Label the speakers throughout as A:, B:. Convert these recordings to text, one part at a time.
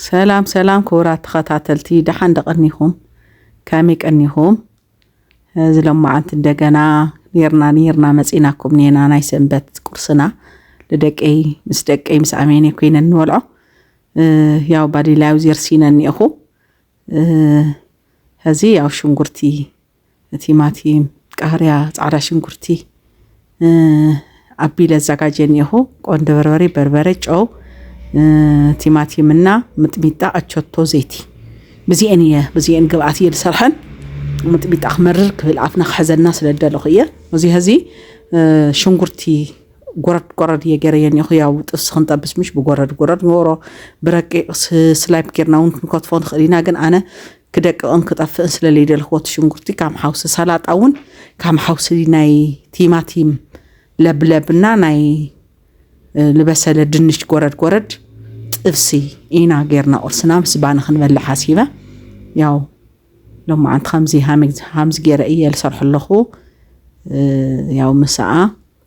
A: ሰላም ሰላም ክቡራት ተኸታተልቲ ደሓን ዶ ቀኒኹም ከመይ ቀኒኹም እዚ ሎማዓንቲ እንደገና ኔርና ኔርና መጺናኩም ኔና ናይ ሰንበት ቁርስና ንደቀይ ምስ ደቀይ ምስ ኣሜኔ ኮይነ ንበልዖ ያው ባዲላዊ ዜርሲነ እኒኤኹ ሀዚ ያው ሽንጉርቲ ቲማቲም፣ ቃርያ፣ ፃዕዳ ሽንኩርቲ ኣቢለ ኣዘጋጀ እኒኹ ቆንደ በርበሬ፣ በርበሬ፣ ጨው፣ ቲማቲምና ምጥሚጣ፣ ኣቸቶ፣ ዘይቲ ብዚኤን እየ ብዚኤን ግብኣት እየ ዝሰርሐን ምጥሚጣ ክመርር ክብል ኣፍና ክሕዘና ስለ ዝደለኹ እየ እዚ ህዚ ሽንጉርቲ ጎረድ ጎረድ እየ ገይረዮ እኒኹ ያው ጥብሲ ክንጠብስ ምሽ ብጎረድ ጎረድ ንገብሮ ብረቂቕ ስላይፕ ጌርና እውን ክንከትፎ ንኽእል ኢና ግን ኣነ ክደቅቕን ክጠፍእን ስለለይደልኽዎ እቲ ሽንጉርቲ ካም ሓውሲ ሰላጣ እውን ካም ሓውሲ ናይ ቲማቲም ለብለብ እና ናይ ልበሰለ ድንሽ ጎረድ ጎረድ ጥብሲ ኢና ጌርና ቁርስና ምስ ባኒ ክንበልዕ ሓሲበ ያው ሎማዓንቲ ከምዚ ሃምዚ ገይረ እየ ዝሰርሑ ኣለኹ ያው ምሳኣ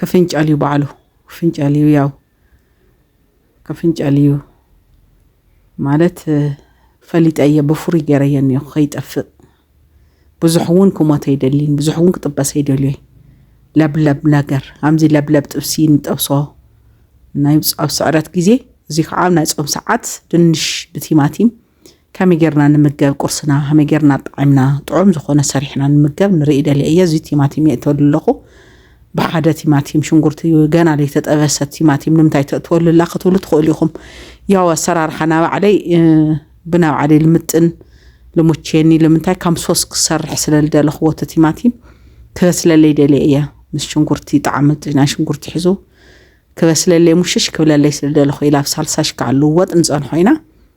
A: ከፍንጨል እዩ ባዕሉ ክፍንጨል እዩ ያው ከፍንጨል እዩ ማለት ፈሊጠ እየ ብፍሩይ ገይረየ እኒኦ ከይጠፍእ ብዙሕ እውን ክሞተ ይደሊን ብዙሕ እውን ክጥበሰ ይደልዮይ ለብለብ ነገር ኣዚ ለብለብ ጥብሲ ንጠብሶ ናይ ኣብ ስዕረት ግዜ እዚ ከዓ ናይ ፆም ሰዓት ድንሽ ብቲማቲም ከመይ ጌርና ንምገብ ቁርስና ከመይ ጌርና ኣጣዒምና ጥዑም ዝኾነ ሰሪሕና ንምገብ ንርኢ ደልየ እየ እዚ ቲማቲም የእተሉ ኣለኹ ብሓደ ቲማቲም ሽንጉርቲ ገና ዘይተጠበሰ ቲማቲም ንምንታይ ተእትወሉ ኣላ ክትብሉ ትኽእሉ ኢኹም ያው ኣሰራርሓ ናባዕለይ ብናባዕለይ ልምጥን ልሙቼኒ ልምንታይ ከም ሶስ ክሰርሕ ስለ ዝደለኽዎ እቲ ቲማቲም ክበስለለይ ደልየ እየ ምስ ሽንጉርቲ ጣዕሚ ናይ ሽንጉርቲ ሒዙ ክበስለለይ ሙሽሽ ክብለለይ ስለ ዝደለኹ ኢላ ኣብ ሳልሳ ሽካዕ ልወጥ ንፀንሖ ኢና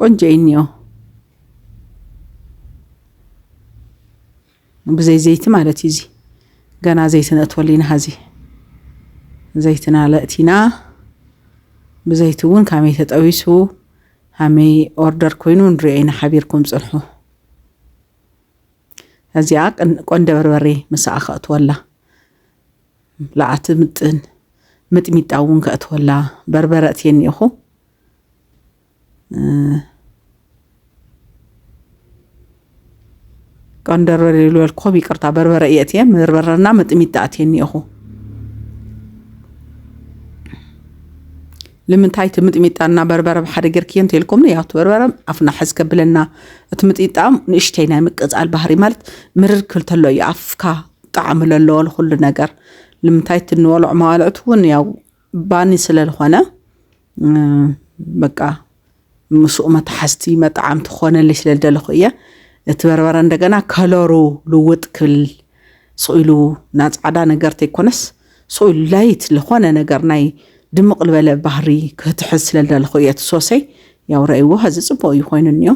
A: ቆንጆ እዩ እኒኦ ብዘይ ዘይቲ ማለት እዩ እዚ ገና ዘይቲ ነእትወሉ ኢና ሀዚ ዘይትና ለእቲና ብዘይቲ እውን ካመይ ተጠቢሱ ሃመይ ኦርደር ኮይኑ ንሪኦ ኢና ሓቢርኩም ፅንሑ እዚኣ ቆንደ በርበሬ ምሳኣ ከእትወላ ለኣቲ ምጥን ምጥሚጣ እውን ከእትወላ በርበረ እትየኒ ኢኹ ቀንደርበር ዝበልኩም ይቅርታ በርበረ እየ እትየ በርበረና መጥሚጣ እትየ እኒኦኹ ልምንታይ እቲ ምጥሚጣና በርበረ ብሓደ ጌርክዮ እንተልኩም ያው እቲ በርበረ ኣፍና ሕዝ ከብለና እቲ ምጥሚጣ ንእሽተይ ናይ ምቅፃል ባህሪ ማለት ምርር ክብል ተሎ እዩ ኣፍካ ጣዕሚ ዘለዎ ንኩሉ ነገር ልምንታይ እቲ እንበልዖ መባልዕቲ እውን ያው ባኒ ስለልኾነ በቃ ምስኡ መታሓዝቲ መጣዓምቲ ክኾነለይ ስለልደለኹ እየ እቲ በርበረ እንደገና ከለሩ ልውጥ ክብል ስኢሉ ና ፃዕዳ ነገር ተይኮነስ ስኢሉ ላይት ዝኾነ ነገር ናይ ድምቕ ልበለ ባህሪ ክህትሕዝ ስለልደለኹ እየ እቲ ሶሰይ ያው ረእይዎ ሀዚ ፅቡቅ እዩ ኮይኑ እኒኦ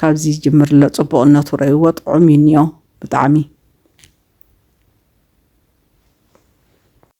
A: ካብዚ ጅምር ኣሎ ፅቡቅነቱ ረእይዎ ጥዑም እዩ እኒኦ ብጣዕሚ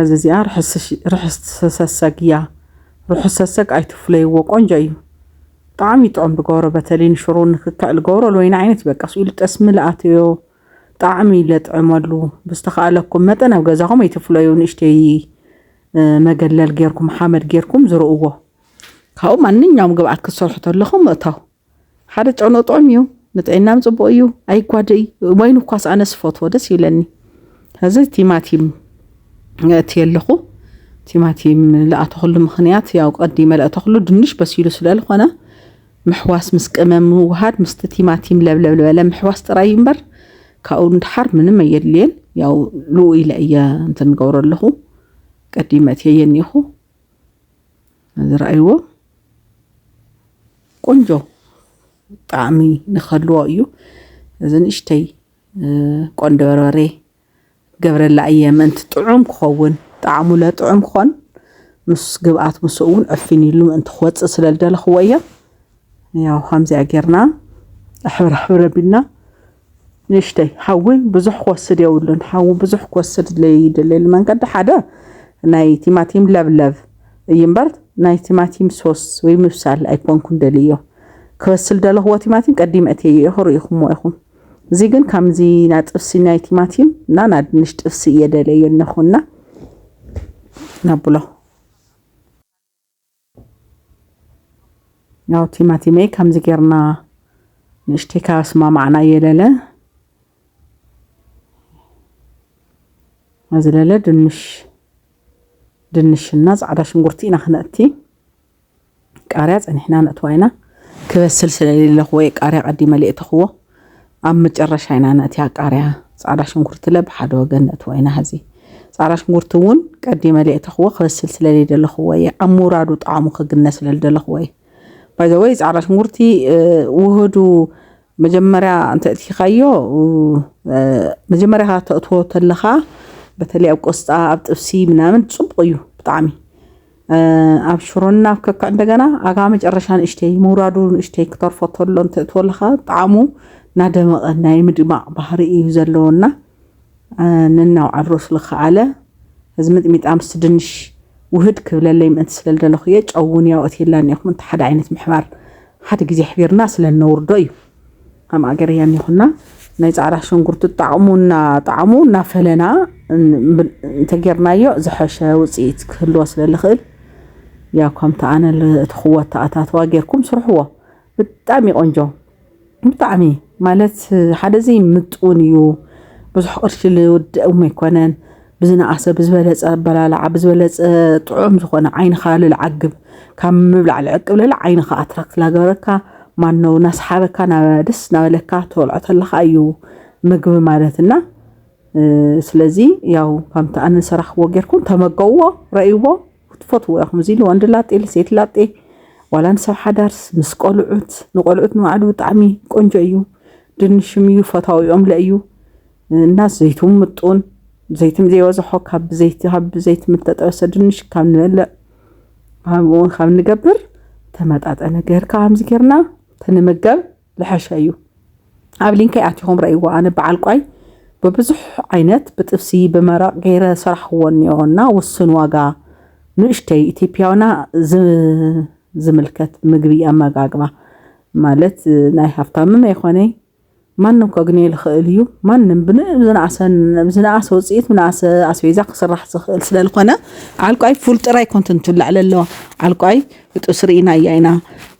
A: እዚ እዚኣ ርሕስ ሰሰግ እያ። ርሑስ ሰሰግ ኣይትፍለይዎ ቆንጆ እዩ ብጣዕሚ ጥዑም ብገብሮ በተለይ ንሽሮ ንክክዕ ልገብሮ ልወይኒ ዓይነት በቃ ስኡ ልጠስሚ ልኣትዮ ጣዕሚ ለጥዕመሉ ብዝተኸኣለኩም መጠን ኣብ ገዛኹም ኣይትፍለዩ ንእሽተይ መገለል ጌርኩም ሓመድ ጌርኩም ዝርእዎ ካብኡ ማንኛውም ግብኣት ክትሰርሑ ተለኹም ምእታው ሓደ ጨኖ ጥዑም እዩ ንጥዕናም ጽቡቅ እዩ ኣይጓደይ ወይን እኳስ ኣነስ ፈትዎ ደስ ይብለኒ እዚ ቲማቲም እትየ ኣለኹ ቲማቲም ለኣተኽሉ ምኽንያት ያው ቀዲመ ለእተኽሉ ድንሽ በሲሉ ስለልኾነ ምሕዋስ ምስ ቅመም ምውሃድ ምስቲ ቲማቲም ለብለብ ዝበለ ምሕዋስ ጥራይ እዩ እምበር ካብኡ ንድሓር ምንም ኣየድልየን ያው ልኡ ኢለ እየ እንትን ገብሮ ኣለኹ ቀዲመ እትየ የኒኹ ዝረኣይዎ ቆንጆ ጣዕሚ ንኸልዎ እዩ እዚ ንእሽተይ ቆንዶ በርበሬ ገብረላ እየ ምእንቲ ጥዑም ክኸውን ጣዕሙ ለጥዑም ክኾን ምስ ግብኣት ምስኡ እውን ዕፊን ኢሉ ምእንቲ ክወፅእ ስለ ዝደለኽዎ እየ ያው ኸምዚኣ ጌርና ኣሕብር ኣሕብር ኣቢልና ንእሽተይ ሓዊ ብዙሕ ክወስድ የብሉን ሓዊ ብዙሕ ክወስድ ዘይደለየሉ መንገዲ ሓደ ናይ ቲማቲም ለብለብ እዩ እምበር ናይ ቲማቲም ሶስ ወይ ምብሳል ኣይኮንኩን ደልዮ ክበስል ደለኽዎ ቲማቲም ቀዲመ እትየ እየ ክርኢኹምዎ ኢኹም እዚ ግን ከምዚ ና ጥብሲ ናይ ቲማቲም እና ና ድንሽ ጥብሲ እየ ደለዮ እነኹና ናብሎ ያው ቲማቲመይ ከምዚ ጌርና ንእሽተይ ካብ ኣስማማዕና እየለለ መዝለለ ድንሽ ድንሽና ፃዕዳ ሽንጉርቲ ኢና ክነእቲ ቃርያ ፀኒሕና ነእትዋ ኢና ክበስል ስለሌለኹ ወይ ቃርያ ቀዲመ ሌእተኽዎ ኣብ መጨረሻ ኢና ነእትያ ቃርያ ጻዕዳ ሽንኩርቲ ለ ብሓደ ወገን ነእትዎ ኢና ሕዚ ጻዕዳ ሽንኩርቲ እውን ቀዲመ ለየእተኽዎ ክበስል ስለለይደለኽዎ እየ ኣብ ምውራዱ ጣዕሙ ክግነ ስለልደለኽዎ እየ ባይዘወይ ጻዕዳ ሽንኩርቲ ውህዱ መጀመርያ እንተእትኻዮ መጀመርያ ተእትዎ ተለኻ በተለይ ኣብ ቆስጣ ኣብ ጥብሲ ምናምን ጽቡቕ እዩ ብጣዕሚ ኣብሽሮና ኣብ ከክዕ እንደገና ኣጋ መጨረሻ ንእሽተይ ምውራዱ ንእሽተይ ክተርፎ ተሎ እንትእትወሉ ከዓ ጣዕሙ ናደመቐ ናይ ምድማቕ ባህሪ እዩ ዘለዎና ነናውዓል ሮስ ልክዓለ እዚ ምጥሚጣ ምስ ድንሽ ውህድ ክብለለይ ምእንቲ ስለ ዝደለኹ እየ ጨውን ያው እትየላን ኢኹም እንተ ሓደ ዓይነት ምሕባር ሓደ ግዜ ሕቢርና ስለ እነውርዶ እዩ ከም ኣገር እያ እኒኹና ናይ ፃዕዳ ሸንጉርቲ ጣዕሙ እና ጣዕሙ እናፈለና እንተጌርናዮ ዝሐሸ ውፅኢት ክህልዎ ስለ ልኽእል ያው ከምቲ ኣነ እትኽዎ ኣተኣታትዋ ጌርኩም ስርሕዎ ብጣዕሚ ቆንጆ ብጣዕሚ ማለት ሓደ ዘይምጡን እዩ ብዙሕ ቅርሺ ዝውድእም ኣይኮነን ብዝነኣሰ ብዝበለፀ ኣበላልዓ ብዝበለፀ ጥዑም ዝኾነ ዓይንኻ ልልዓግብ ካብ ምብላዕ ልዕቅብ ልል ዓይንኻ ኣትራክት ላገበረካ ማነው ናስሓበካ ናብ ደስ ናበለካ ተበልዖ ተለካ እዩ ምግቢ ማለት እና ስለዚ ያው ከምቲ ኣነ ሰራሕዎ ጌርኩም ተመገብዎ ረእይዎ ክትፈትዎ ኢኹም እዚ ንወንድ ላጤ ልሴት ላጤ ዋላ ንሰብ ሓዳርስ ምስ ቆልዑት ንቆልዑት ንባዕሉ ብጣዕሚ ቆንጆ እዩ ድንሽም እዩ ፈታዊኦም ለእዩ እና ዘይቱ ምጡን ዘይትም ዘይበዝሖ ካብ ብዘይቲ ካብ ብዘይቲ ምተጠበሰ ድንሽ ካብ ንበልዕ ኣብኡውን ካብ ንገብር ተመጣጠነ ገርካ ከምዚ ጌርና ተንመገብ ልሐሸ እዩ ኣብ ሊንከይ ኣቲኹም ረእይዎ ኣነ በዓል ቋይ ብብዙሕ ዓይነት ብጥብሲ ብመረቕ ገይረ ሰራሕዎ እኒኦ እና ውስን ዋጋ ንእሽተይ ኢትዮጵያውና ዝምልከት ምግቢ ኣመጋግባ ማለት ናይ ሃብታምም ኣይኮነይ ማንም ከግንዮ ልኽእል እዩ ማንም ብዝነኣሰ ብዝነኣሰ ውፅኢት ብዝነኣሰ ኣስቤዛ ክስራሕ ዝኽእል ስለ ዝኾነ ዓልቋይ ፉል ጥራይ ኮንትን ትብላዕ ለለዋ ዓልቋይ ብጥብሲ ርኢናያ ኢና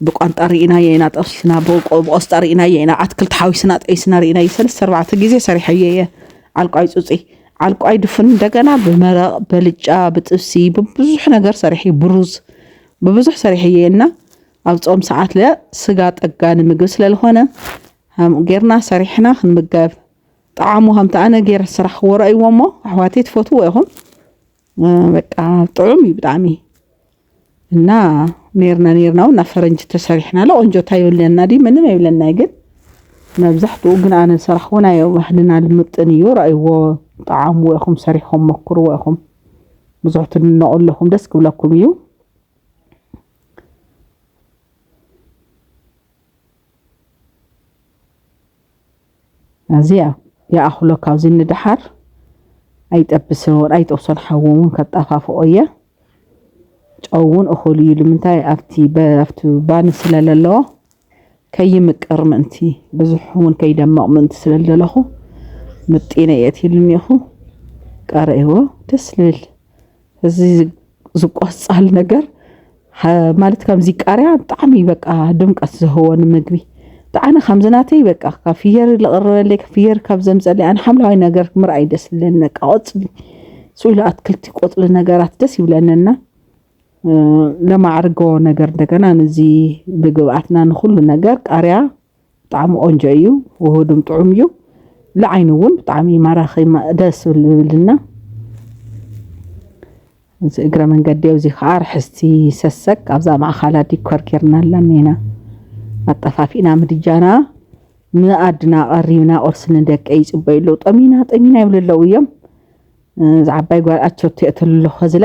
A: ብቋንጣ ርኢናዮ ኢና ጠብሲና ብቆ- ብቆስጣ ርኢናዮ ኢና ኣትክልቲ ሓዊስና ጠቢስና ርኢናዮ ሰለስተ ኣርባዕተ ግዜ ሰሪሐዮ እየ ዓልቋይ ፁፂ ዓልቋይ ድፍን እንደገና ብመረቕ በልጫ ብጥብሲ ብብዙሕ ነገር ሰሪሐ ብሩዝ ብብዙሕ ሰሪሐዮ እየ እና ኣብ ጾም ሰዓትለ ስጋ ጠጋኒ ምግቢ ስለልኾነ ሃምኡ ጌርና ሰሪሕና ክንምገብ ጠዓሙ ከምቲ ኣነ ጌረ ዝሰራሕክዎ ረእይዎ እሞ ኣሕዋተይ ትፈትዎ ኢኹም በቃ ጥዑም እዩ ብጣዕሚ እና ኔርና ኔርና እውን ናብ ፈረንጂ ተሰሪሕና ኣሎ ቆንጆ እንታይ ይብለና ድዩ ምንም የብለና ግን መብዛሕትኡ ግን ኣነ ዝሰራሕዎ ናይ ባህልና ልምጥን እዩ ረእይዎ ጠዓምዎ ኢኹም ሰሪሕኹም መኩርዎ ኢኹም ብዙሕ ትድነቑ ኣለኹም ደስ ክብለኩም እዩ ኣዚያ ይኣኽሎ ካብዚ ንደሓር ኣይጠብሶን ኣይጠብሶን ሓዊ እውን ከጣፋፍኦ እየ ጨው እውን እኹል እዩ ልምንታይ ኣብቲ ኣብቲ ባኒ ስለ ዘለዎ ከይምቅር ምእንቲ ብዙሕ እውን ከይደመቕ ምእንቲ ስለ ዘለኹ ምጢነ እየ እትይሉ እኒኹ ቀረእዎ ደስ ልብል እዚ ዝቆፃል ነገር ማለት ከምዚ ቃርያ ብጣዕሚ በቃ ድምቀት ዝህቦ ንምግቢ ብጣዕሚ ከምዚ ናተይ በቃ ካብ ፍየር ዝቐረበለይ ፍየር ካብ ዘምፀለይ ኣነ ሓምለዋይ ነገር ምርኣይ ደስ ዝብለኒ በቃ ቆፅሊ ስኢሉ ኣትክልቲ ቆፅሊ ነገራት ደስ ይብለኒ እና ለማዕርጎ ነገር እንደገና ነዚ ብግብኣትና ንኹሉ ነገር ቃርያ ብጣዕሚ ቆንጆ እዩ ውሁዱን ጥዑም እዩ ንዓይኒ እውን ብጣዕሚ ማራኺ ደስ ዝብልና እዚ እግረ መንገዲ ኣብዚ ከዓ ርሕስቲ ሰሰግ ኣብዛ ማእኻላ ዲኮር ጌርና ኣላና ኢና ኣጠፋፊእና ምድጃና ንኣድና ቀሪብና ቁርሲ ንደቀ ይፅበዩ ኣለዉ ጠሚና ጠሚና ይብሉ ኣለዉ እዮም እዚ ዓባይ ጓል ኣቸቶ የእተሉ ኣለኹ ዝለ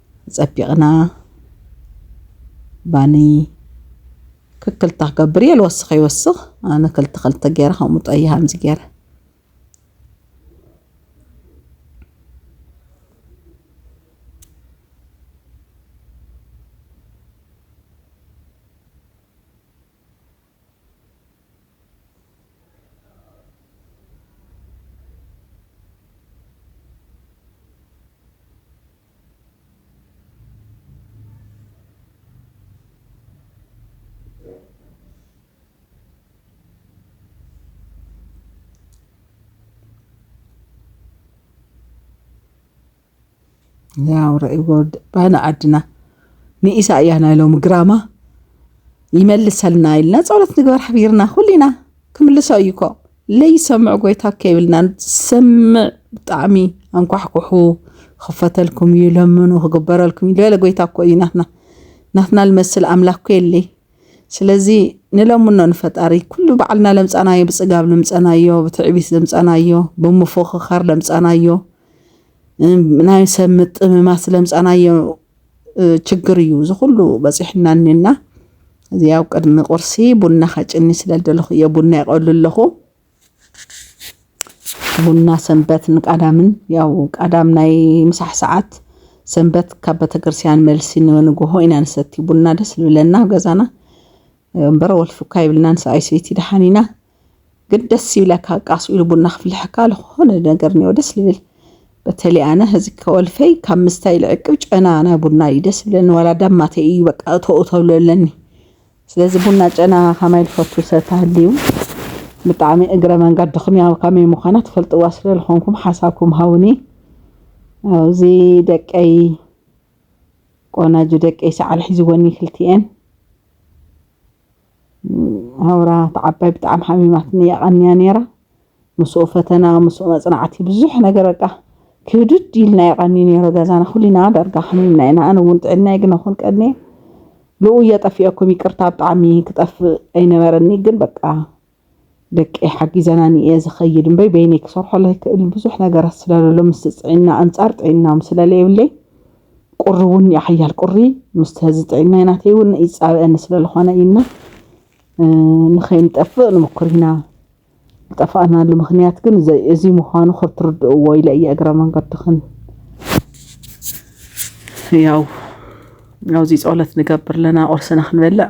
A: ጸቢቕና ባኒ ክክልተ ክገብር እየ ልወስኽ ይወስኽ ኣነ ክልተ ክልተ ገይረ ከምኡ ጠይ ሃምዚ ገይረ ያው ረእይዎ ባይና ዓድና ንኢሳያ ናይ ሎሚ ግራማ ይመልሰልና ኢልና ፀሎት ንግበር ሓቢርና ኩሊና ክምልሶ እዩኮ ለይሰምዕ ጎይታ ከይብልና ዝሰምዕ ብጣዕሚ ኣንኳሕኩሑ ክኽፈተልኩም እዩ ለምኑ ክግበረልኩም እዩ ዝበለ ጎይታ እኮ እዩ ናትና ናትና ልመስል ኣምላክ እኮ የለይ ስለዚ ንለምኖ ንፈጣሪ ኩሉ ባዕልና ለምፃናዮ ብፅጋብ ለምፀናዮ ብትዕቢት ለምፀናዮ ብምፎኽኻር ለምፀናዮ ናይ ሰብ ምጥምማት ለምፀናዮ ችግር እዩ እዚ ኩሉ በፂሕና እኒና እዚ ኣብ ቅድሚ ቁርሲ ቡና ከጭኒ ስለ ደለኹ እየ ቡና የቀሉ ኣለኹ ቡና ሰንበትን ቀዳምን ያው ቀዳም ናይ ምሳሕ ሰዓት ሰንበት ካብ ቤተክርስቲያን መልሲ ንንግሆ ኢና ንሰቲ ቡና ደስ ዝብለና ኣብ ገዛና እምበር ወልፊ እኳ የብልናን ሰብኣይ ሰይቲ ደሓን ኢና ግን ደስ ይብለካ ቃስ ኢሉ ቡና ክፍልሐካ ዝኾነ ነገር ኒዮ ደስ ልብል በተሊ ኣነ እዚ ከወልፈይ ካብ ምስታይ ልዕቅብ ጨና ናይ ቡና እዩ ደስ ብለኒ ዋላ ዳማተ እዩ በቃ እተኡ ተብሎ ኣለኒ ስለዚ ቡና ጨና ከማይ ዝፈቱ ሰብ ተሃልዩ ብጣዕሚ እግረ መንገድኹም ያው ከመይ ምዃና ትፈልጥዋ ስለ ዝኾንኩም ሓሳብኩም ሃውኒ ኣብዚ ደቀይ ቆናጁ ደቀይ ሰዓል ሒዝወኒ ክልቲኤን ኣውራ እታ ዓባይ ብጣዕሚ ሓሚማትኒ የቐንያ ነይራ። ምስኡ ፈተና፣ ምስኡ መጽናዕቲ ብዙሕ ነገር በቃ ክብድድ ኢልና የቐኒ ነይሩ ገዛና ኩልና ዳርጋ ሓሚምና ኢና። ኣነ እውን ጥዕናይ ግን ኣኹን ቀንየ ልኡየ ጠፊኦኩም ይቅርታ ብጣዕሚ ክጠፍእ ኣይነበረኒ ግን በቃ ደቀይ ሓጊዘናኒ እየ ዝኸይድ እምበይ በይነይ ክሰርሖ ለይክእል ብዙሕ ነገራት ስለለሎ ምስ ጥዕና ኣንጻር ጥዕናም ስለለየብለይ ቁሪ እውን ሓያል ቁሪ ምስ ህዚ ጥዕናይ ናተይ እውን ይጻበአኒ ስለለኾነ ኢና ንኸይንጠፍእ ንሙኩር ኢና ዝጠፋእናሉ ምክንያት ግን እዚ ምዃኑ ክትርድእዎ ኢለ እየ እግረ መንገድኽን ያው ኣብዚ ጸሎት ንገብር ኣለና ቁርስና ክንበልዕ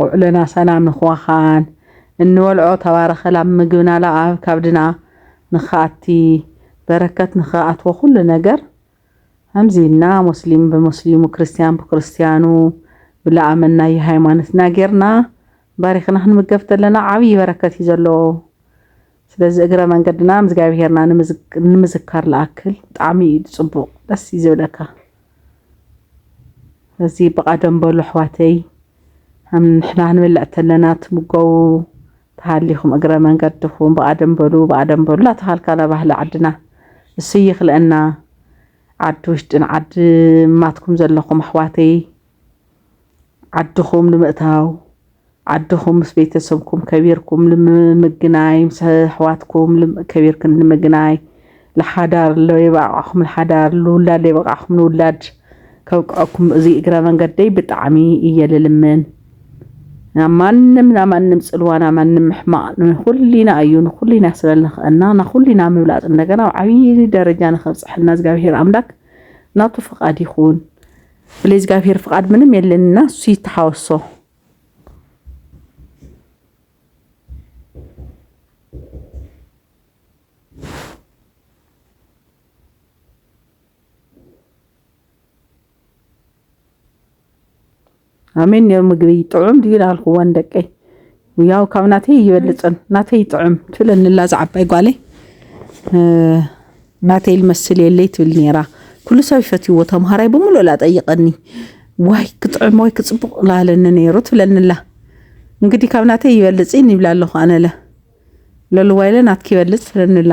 A: ውዕሎና ሰላም ንክዋኻን እንበልዖ ተባረኸ ላብ ምግብና ላብ ኣብ ካብድና ንክኣቲ በረከት ንክኣትዎ ኩሉ ነገር ከምዚ ኢልና ሞስሊም ብሞስሊሙ ክርስትያን ብክርስትያኑ ብላኣመናዮ ሃይማኖትና ጌርና ባሪኽና ክንምገብ ተለና ዓብዪ በረከት እዩ ዘለዎ። ስለዚ እግረ መንገድና እግዛብሄርና ንምዝካር ልኣክል ብጣዕሚ እዩ ፅቡቅ ደስ እዩ ዝብለካ እዚ ብቃ ደም በሉ ኣሕዋተይ ንሕና ክንበልዕ ተለና ትምገቡ ተሃሊኹም እግረ መንገድኹም ብቃ ደም በሉ ብቃ ደም በሉ እናተባሃልካና ባህሊ ዓድና እሱ ይኽለአና ዓዲ ውሽጥን ዓዲ ማትኩም ዘለኹም ኣሕዋተይ ዓድኹም ንምእታው ዓድኹም ምስ ቤተሰብኩም ከቢርኩም ንምግናይ ምስ ኣሕዋትኩም ከቢርክን ንምግናይ ለሓዳር ለይበቃዕኹም ለሓዳር ልውላድ ለይበቃዕኹም ንውላድ ከብቅዐኩም እዚ እግረ መንገደይ ብጣዕሚ እየ ልልምን ናብ ማንም ናብ ማንም ፅልዋ ናብ ማንም ምሕማቕ ንኹልና እዩ ንኹልና ስለ ልኽእና ንኹልና ምብላፅ እንደገና ኣብ ዓብዪ ደረጃ ንኸብፅሐና እግዚኣብሄር ኣምላክ ናቱ ፍቓድ ይኹን ብለይ ዝጋብሄር ፍቃድ ምንም የለንና እሱ ይተሓወሶ። ኣሜን ኔሩ ምግቢ ጥዑም ድዩ ናልኩወን ደቀይ ያው ካብ ናተይ ይበልፅን ናተይ ይጥዕም ትብለኒላ እዛ ዓባይ ጓለይ ናተይ ልመስል የለይ ትብል ነይራ ኩሉ ሰብ ይፈትይዎ ተምሃራይ ብምሉእ ላ ጠይቀኒ ዋይ ክጥዕም ወይ ክፅቡቅ ላለኒ ነይሩ ትብለኒላ እንግዲህ ካብ ናተይ ይበልፅን ይብላ ኣለኹ ኣነለ ለልዋይለ ናትኪ ይበልፅ ትብለኒላ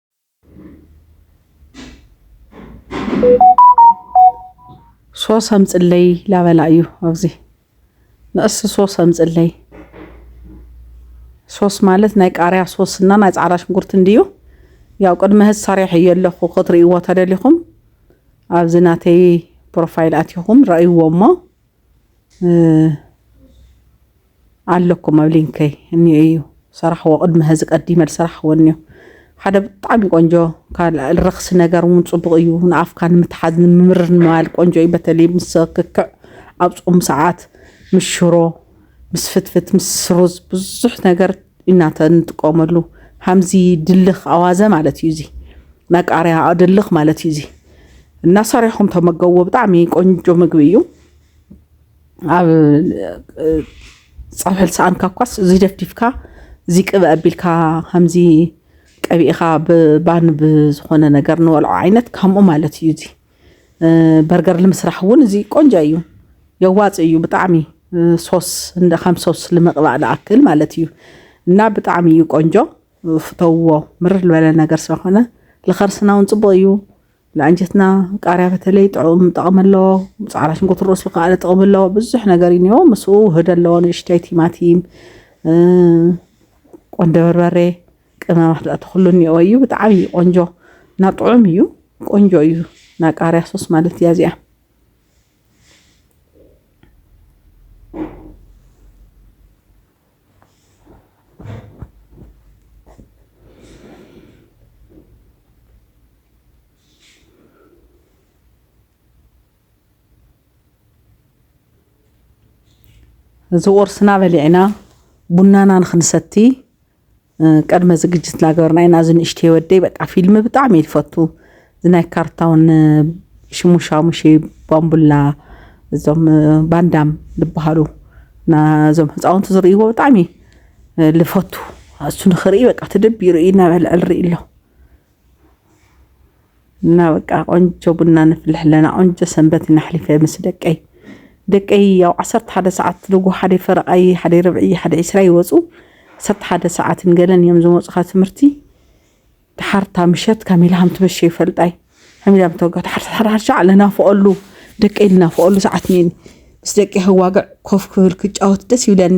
A: ሶስ ኣምፅለይ ላበላ እዩ ኣብዚ ንእስ ሶስ ኣምፅለይ ሶስ ማለት ናይ ቃርያ ሶስ እና ናይ ፃዕዳ ሽንጉርቲ እንድዩ ያው ቅድሚ ህዝ ሰሪሕ እየ ኣለኹ ክትርእይዎ ተደሊኹም ኣብዚ ናተይ ፕሮፋይል ኣትኹም ረእይዎ እሞ ኣለኩም ኣብ ሊንከይ እኒኦ እዩ ሰራሕዎ ቅድሚ ሀዚ ቀዲመ ዝሰራሕዎ እኒኦ ሓደ ብጣዕሚ ቆንጆ ካልኣል ረክሲ ነገር እውን ፅቡቅ እዩ ንኣፍካ ንምትሓዝ ንምምርር ንምባል ቆንጆ እዩ በተለይ ምስ ክክዕ ኣብ ፆም ሰዓት ምስ ሽሮ ምስ ፍትፍት ምስ ሩዝ ብዙሕ ነገር ኢና ንጥቀመሉ ሃምዚ ድልኽ ኣዋዘ ማለት እዩ እዚ ናይ ቃርያ ድልኽ ማለት እዩ እዚ እና ሰሪሕኩም ተመገብዎ ብጣዕሚ ቆንጆ ምግቢ እዩ ኣብ ፀብሒ ልሰኣንካ እኳስ እዚ ደፍዲፍካ እዚ ቅበ ኣቢልካ ከምዚ ቀቢእኻ ብባን ብዝኾነ ነገር ንበልዖ ዓይነት ከምኡ ማለት እዩ እዚ በርገር ንምስራሕ እውን እዚ ቆንጆ እዩ የዋፅ እዩ ብጣዕሚ ሶስ እንደ ከም ሶስ ልምቕባእ ልኣክል ማለት እዩ እና ብጣዕሚ እዩ ቆንጆ ፍተውዎ ምርር ዝበለ ነገር ስለኾነ ልኸርስና እውን ፅቡቅ እዩ ንኣንጀትና ቃርያ በተለይ ጥዑም ጠቕሚ ኣለዎ ፃዕዳ ሽንጉርቲ ርእሱ ከዓ ጥቕሚ ኣለዎ ብዙሕ ነገር እዩ እኒኦ ምስኡ ውህድ ኣለዎ ንእሽተይ ቲማቲም ቆንደ በርበሬ ቅመማት ብኣቲ ኩሉ እኒኦ እዩ ብጣዕሚ ቆንጆ እና ጥዑም እዩ ቆንጆ እዩ እና ቃሪያ ሶስ ማለት እያ እዚኣ እዚ ቁርስና በሊዕና ቡናና ንክንሰቲ ቅድመ ዝግጅት እናገበርና ኢና እዚ ንእሽተይ ወደይ በቃ ፊልም ብጣዕሚ እዩ ዝፈቱ እዚ ናይ ካርታውን ሽሙ ሻሙሸ ባምቡላ እዞም ባንዳም ዝበሃሉ ናዞም ህፃውንቲ ዝርእይዎ ብጣዕሚ ልፈቱ እሱ ንኽርኢ በቃ ተደቢሩ እዩ እናበልዐ ዝርኢ ኣሎ እና በቃ ቆንጆ ቡና ነፍልሕ ኣለና ቆንጆ ሰንበት ኢና ኣሕሊፈ ምስ ደቀይ ደቀይ ያው ዓሰርተ ሓደ ሰዓት ልጉ ሓደ ፈረቓይ ሓደ ርብዒ ሓደ ዒስራ ይወፁ ዓሰርተ ሓደ ሰዓትን ገለን እዮም ዝመፁ ካብ ትምህርቲ ድሓርታ ምሸት ካሚላ ሃም ትመሸ ይፈልጣይ ሓሚላ ምተወጋ ድሓርታ ሓርሻ ለናፍቐሉ ደቀይ ልናፍቐሉ ሰዓት ነኒ ምስ ደቀይ ህዋግዕ ኮፍ ክብል ክጫወት ደስ ይብለኒ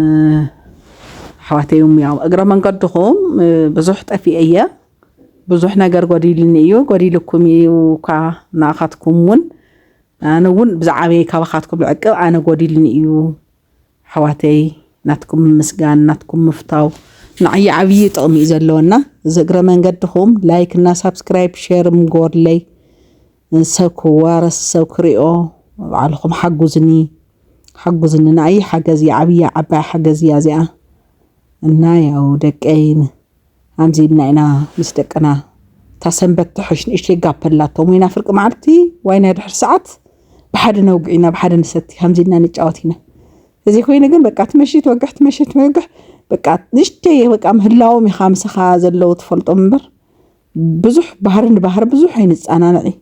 A: ኣሕዋተይ ሙያው እግረ መንገድኹም ብዙሕ ጠፊኤ እየ ብዙሕ ነገር ጎዲልኒ እዩ ጎዲልኩም እዩ እኳ ንኣኻትኩም እውን ኣነ እውን ብዛዕበይ ካባኻትኩም ዕቅብ ኣነ ጎዲልኒ እዩ ኣሕዋተይ ናትኩም ምስጋን ናትኩም ምፍታው ንዓይ ዓብዪ ጥቕሚ እዩ ዘለዎና እዚ እግረ መንገድኹም ላይክ እና ሳብስክራይብ ሼር ምጎድለይ ሰብ ክዋረስ ሰብ ክሪኦ ባዕልኩም ሓጉዝኒ ሓጉዝኒ ንኣይ ሓገዝ እያ ዓብይ ዓባይ ሓገዝ እያ እዚኣ እና ያው ደቀይ ኣምዚ ኢልና ኢና ምስ ደቅና እታ ሰንበት ትሕሽ ንእሽተይ ጋፕ ኣላቶም ወይና ፍርቂ መዓልቲ ዋይና ድሕሪ ሰዓት ብሓደ ነውግዕ ኢና ብሓደ ንሰቲ ከምዚ ኢልና ንጫወት ኢና እዚ ኮይኑ ግን በቃ ትመሽት ወግሕ ትመሽት ወግሕ በቃ ንእሽተይ በቃ ምህላዎም ኢኻ ምስኻ ዘለዉ ትፈልጦም እምበር ብዙሕ ባህሪ ንባህሪ ብዙሕ ኣይንፀናንዕ እዩ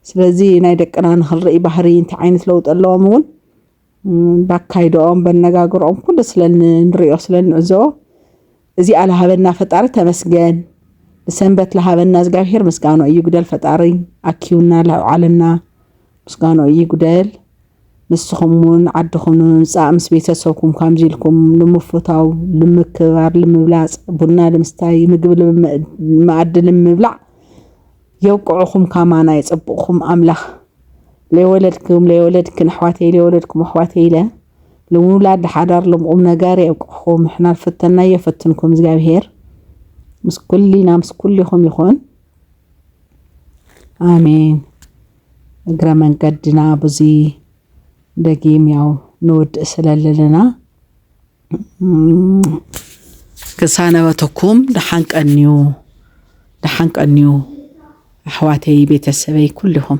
A: ስለዚ ናይ ደቅና ንክንርኢ ባህሪ እንታይ ዓይነት ለውጢ ኣለዎም እውን ባካይድኦም በነጋግርኦም ኩሉ ስለ ንሪኦ ስለ ንዕዘቦ እዚኣ ልሃበና ፈጣሪ ተመስገን ንሰንበት ልሃበና እግዚኣብሄር ምስጋኖ እዩ ጉደል ፈጣሪ ኣኪቡና ለውዓለና ምስጋኖ እዩ ጉደል ንስኹም እውን ዓድኹም ንምምፃእ ምስ ቤተሰብኩም ከምዚ ኢልኩም ንምፍታው፣ ንምክብባር፣ ልምብላፅ፣ ቡና ልምስታይ፣ ምግቢ መኣዲ ልምብላዕ የብቅዕኹም ካማና የፀብቕኹም ኣምላኽ ለይወለድኩም ለይወለድክን ኣሕዋተይ ለይወለድኩም ኣሕዋተይ ኢለ ልውላድ ሓዳር ልምቁም ነገር የብቅዕኹም ንሕና ልፈተና የፈትንኩም እግዚኣብሄር ምስ ኩልና ምስ ኩልኹም ይኹን ኣሜን እግረ መንገድና ብዙ ደጊም ያው ንውድእ ስለለለና ክሳነበተኩም ደሓን ቀንዩ ደሓን ቀንዩ ኣሕዋተይ ቤተሰበይ ኩልኹም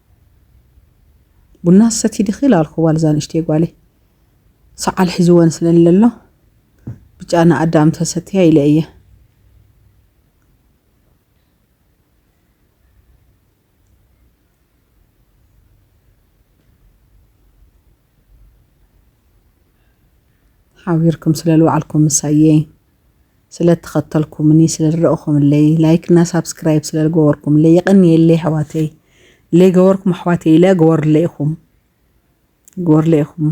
A: ቡና ትሰቲ ዲኺ ኢላ ኣልኩዋ ልዛ ንእሽተይ ጓለይ ሰዓል ሒዝወን ስለ ለሎ ብጫ ንኣዳም ተሰትያ ኢለ እየ ሓቢርኩም ስለ ልውዓልኩም ምሳየይ ስለ ተኸተልኩምኒ ስለ ዝረእኹምለይ ላይክ እና ሳብስክራይብ ስለ ዝገበርኩምለይ የቐንየለይ ኣሕዋተይ ለይገበርኩም ኣሕዋተይ ኢለ ግበሩለይ ኢኹም ግበሩለይ ኢኹም